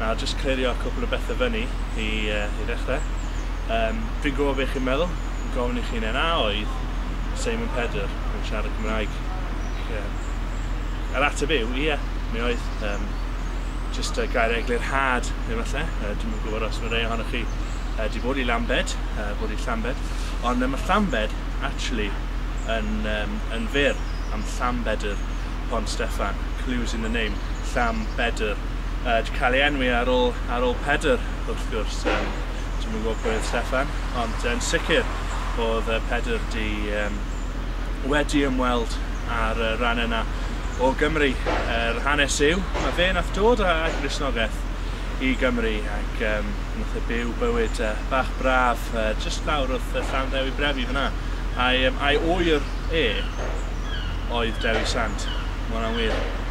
Nawr jyst clirio cwpl o bethe fyny i yy i ddechre. Yym fi'n gwbo be' chi'n meddwl, fi'n gofyn i chi ne' na oedd Seimon Pedr yn siarad Cymraeg? Ie. Yr ateb yw ie, mi oedd. Yym jyst yy gair eglurhad efalle, yy dwi'm yn gwbod os ma' rei ohonoch chi yy 'di bod i Lambed, yy bod i Llambed, ond yy ma' Llambed actually yn yym yn fyr am Llanbedr Pont Steffan, clues in the name, Llanbedr. wedi cael ei enwi ar ôl, ar ôl Pedr, wrth gwrs. Um, Dwi'n yn gwybod pwy oedd Steffan, ond yn sicr oedd Pedr di um, wedi ymweld ar y rhan yna o Gymru. Yr er hanes yw, mae fe nath dod â Gristnogaeth i Gymru ac um, nath e byw bywyd uh, bach braf uh, just lawr wrth uh, Llan Ddewi Brefi fyna. A'i, um, a'i oer e oedd Dewi Sant. Mae hwnna'n wir.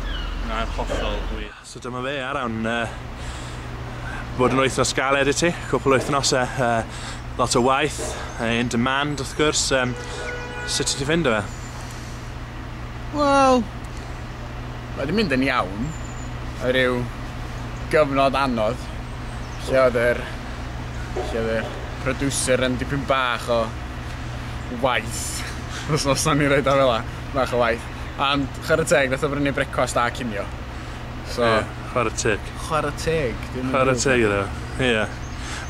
Mae'n hollol wych. So dyma fe ar awn. Bod yn wythnos galed i ti, cwpl wythnosau, lot o waith, in demand wrth gwrs, sut ti ffind o fe? Wel, mae wedi mynd yn iawn, a rhyw gyfnod anodd, lle oedd yr, lle oedd yr producer yn dipyn bach o waith, os o'n i'n rhaid o fela, bach o waith. Ond chwarae teg, nath o brynu brecwast a cinio. So... Ie, chwarae teg. Chwarae teg. Chwarae teg iddo, ie.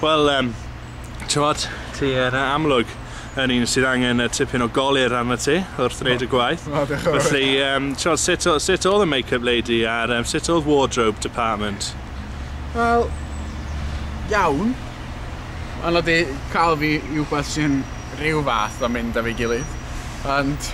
Wel, um, tywod, ti yn amlwg yn un sydd angen y tipyn o golir arno ti wrth wneud y gwaith. O, diolch yn fawr. Felly, um, tywod, sut, sut oedd y make-up lady a'r um, sut oedd wardrobe department? Wel, iawn. Ond oedd cael fi i wbeth sy'n rhyw fath o mynd â fi gilydd. Ond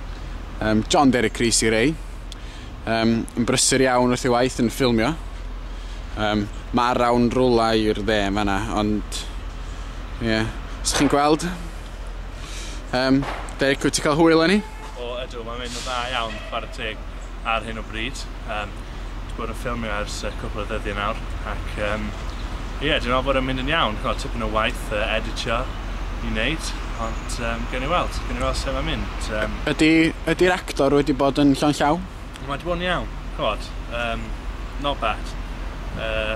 Yym, John Derek Rees i rei. Yym, yn brysur iawn wrth ei waith yn ffilmio. Yym, mae rawn rwla i'r dde yn fanna, ond... Ie, yeah. Os chi'n gweld... Yym, Derek, wyt ti'n cael hwyl â ni? O, ydw, mae'n mynd yn dda iawn, chwarae teg. ar hyn o bryd. Yym, dwi bod yn ffilmio ers uh, cwpl o ddyddiau nawr, ac um, ie, yeah, dwi'n meddwl bod yn mynd yn iawn. Chod, tipyn o waith uh, editio i wneud, ond um, gen i weld, gen i weld sef am mynd. Um, ydy, ydy'r actor wedi bod yn llon llaw? Mae wedi bod yn iawn, chod, um, not bad. Uh,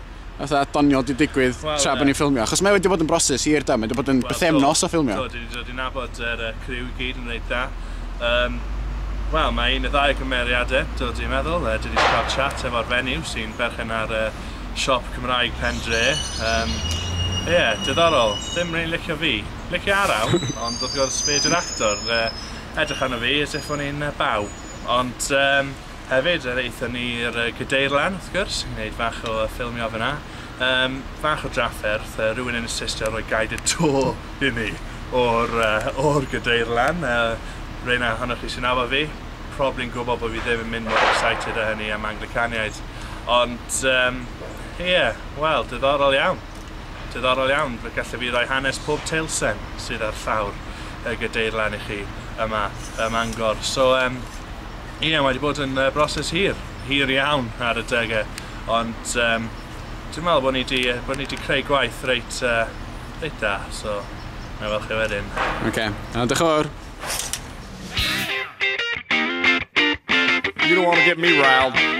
fatha doniol 'di digwydd Wel, tra bod ie. ni'n ffilmio, achos mae wedi bod yn broses hir do, mae wedi bod yn Wel, bythefnos do, o ffilmio. Do, dwi 'di dod i nabod yr yy criw i gyd yn reit dda. Yym, wel, mae un neu ddau o cymeriade, do, dwi'n meddwl, yy, dwi 'di cael chat efo'r fenyw sy'n berchen ar yy siop Cymraeg Pen Dre, yym, ie, diddorol, ddim rili'n licio fi. Licio Araw, ond wrth gwrs, fe ydy'r actor, yy, edrych arno fi as if o'n i'n yy baw. Ond, yym, Hefyd yr aethon ni i'r yy Gadeirlan wrth gwrs i neud fach o yy ffilmio fynna. Yym fach o drafferth yy rywun yn insistio ar roi guided tour i ni o'r yy o'r Gadeirlan yy rei 'na ohonoch chi sy'n nabod fi probly'n gwbo bo' fi ddim yn mynd mor excited â hynny am Anglicaniaid ond yym ie wel diddorol iawn diddorol iawn fe galle fi roi hanes pob teilsen sydd ar llawr y Gadeirlan i chi yma ym Mangor so yym Ie, mae 'di bod yn broses hir, hir iawn ar adegau, ond um, dwi'n meddwl bod ni 'di, bod ni 'di creu gwaith reit, uh, reit da, so na fel chi wedyn. Oce, okay. uh, diolch yn fawr. You don't want to get me riled.